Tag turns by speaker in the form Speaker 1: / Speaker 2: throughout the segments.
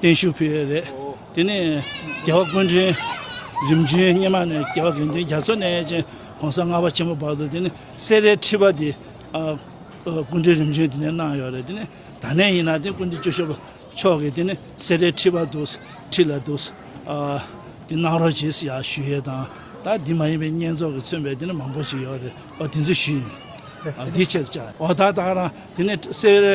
Speaker 1: བརྟན་བཞུགས་ཕུལ་ཡས་རེད། དེ་ནས་རྒྱལ་བ་ཀུན་འདྲེན་རིམ་བྱོན་སྙེ་མ་ནས་རྒྱལ་བ་དགེ་འདུན་རྒྱ་མཚོ་ནས་ཅན་གོང་ས་ལྔ་བ་ཆེན་པོ་བར་དུ་དེ་ནས་སེ་རའི་ཁྲི་པ་དེ་ཀུན་འདྲེན་རིམ་བྱོན་དེ་ནས་གནང་ཡོད་རེད་དེ་ནས་ད་ནས་ཡིན་ན་དེ་ཀུན་འདྲེན་ཅོ་ཤོ་མཆོག་གིས་དེ་ནས་སེ་རའི་ཁྲི་པ་འདུག་ཁྲི་ལ་འདུག་དེ་གནང་རོགས་བྱེད་ཡ་ཞུ་ཡས་དང་ད་དེ་མ་ཡིན་པའི་བསྙེན་རྫོགས་ཀྱི་མཚོན་པའི་དེ་ནས་མང་པོ་ཅིག་ཡོད་རེད་འོ་དེ་ཚོ་ཞུ་ཡིན་འོ་དེ་ཆེད་དུ་བཅའ་འོ་ད་ད་རང་དེ་ནས་སེ་རའི་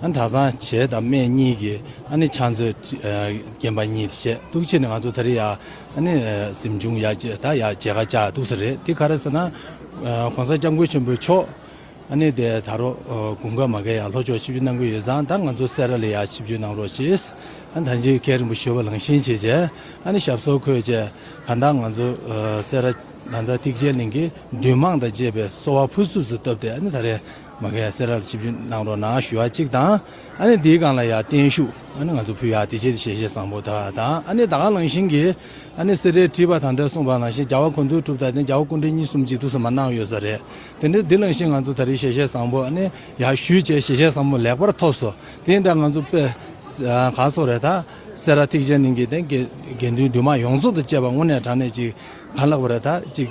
Speaker 2: ཨ་ནི་གྲྭ་ཚང་བྱེས་དང་སྨད་གཉིས་ཀྱིས་ཨ་ནི་ཕྱག་མཛོད་རྒྱན་པ་གཉིས་བཞེས་གཏུགས་ཕྱིར་ནི་ང་ཚོ་ད་རེས་ཡག་ཨ་ནི་གཟིམ་ཆུང་ཡག་བྱེས་ད་ཡག་བྱེས་ཁ་ཆགས་གཏུགས་ས་རེད་འདི་ག་རེད་ཟེར་ན། གོང་ས་སྐྱབས་མགོན་ཆེན་པོའི་མཆོག་ཨ་ནི་དེ་ད་རོགས་དགུན་ཁ་མ་བརྒལ་ཡག་ལྷོ་ཕྱོགས་ཆིབས་བསྒྱུར་གནང་གི་ཡོད་ཙང་ད་ང་ཚོ་སེ་ར་ལ་ཡག་ཆིབས་བསྒྱུར་གནང་རོགས་བྱེས་ཨ་ནི་ད་འཇིགས་བསྐལ་རིང་པོ་བཞུགས་པ་ལང་ཞེན་བྱེད་བྱས་ཨ་ནི་ཞབས་སོར་འཁོད་བྱས་གང་ལྟར་ང་ཚོ་སེ་ར་ད་ལྟ་ཐིག་ཆེན་གླིང་གི་འདུས་མང་དང་བཅས་པས་གསོ་བ་ཕུན་སུམས་སུ་བཏབ་སྟེ་ཨ་ནི་ད་རེས། མ་གས་སེ་ར་ལ་ཆིབས་བསྒྱུར་གནང་རོགས་གནང་ཞུ་བ་གཅིག་དང་ཨ་ནེ་འདིའི་སྒང་ལ་ཡང་བརྟན་བཞུགས་ཨ་ནེ་ང་ཚོ་ཕུལ་ཡག་དེ་བྱས་དེ་བྱས་བཤད་བཟང་པོ་དག་དང་ཨ་ནེ་ད་ག་ལང་ཤིང་གི་ཨ་ནེ་སེ་རའི་བྲིས་པ་དང་འདྲ་གསུངས་པ་ནང་བཞིན་རྒྱ་བ་གོ་འདུག་གྲུབ་དང་དེ་རྒྱ་བ་སྐུ་འདྲེ་གཉིས་གསུམ་གཅིག་ཏུ་སོ་མ་གནང་ཡོད་ས་རེད་དེ་འདྲ་འདི་ལང་ཤིང་ང་ཚོ་ད་རེ་བྱས་བཤད་བཟང་པོ་ཨ་ནེ་ཡག་ཞུས་བྱས་བྱས་བཤད་བཟང་པོ་ལེགས་པར་ཐོབ་སོ་དེ་འདྲ་ང་ཚོ་དཔེ་ག་སོགས་རེད་ད་སེ་ར་ཐིག་ཆེན་གླིང་གི་དེ་དགེ་འདུན་འདུས་མང་ཡོངས་རྫོགས་དང་བཅས་པ་དངོས་གནས་དྲང་གནས་ཅིག་ག་ལགས་པ་རེད་ད་ཅིག།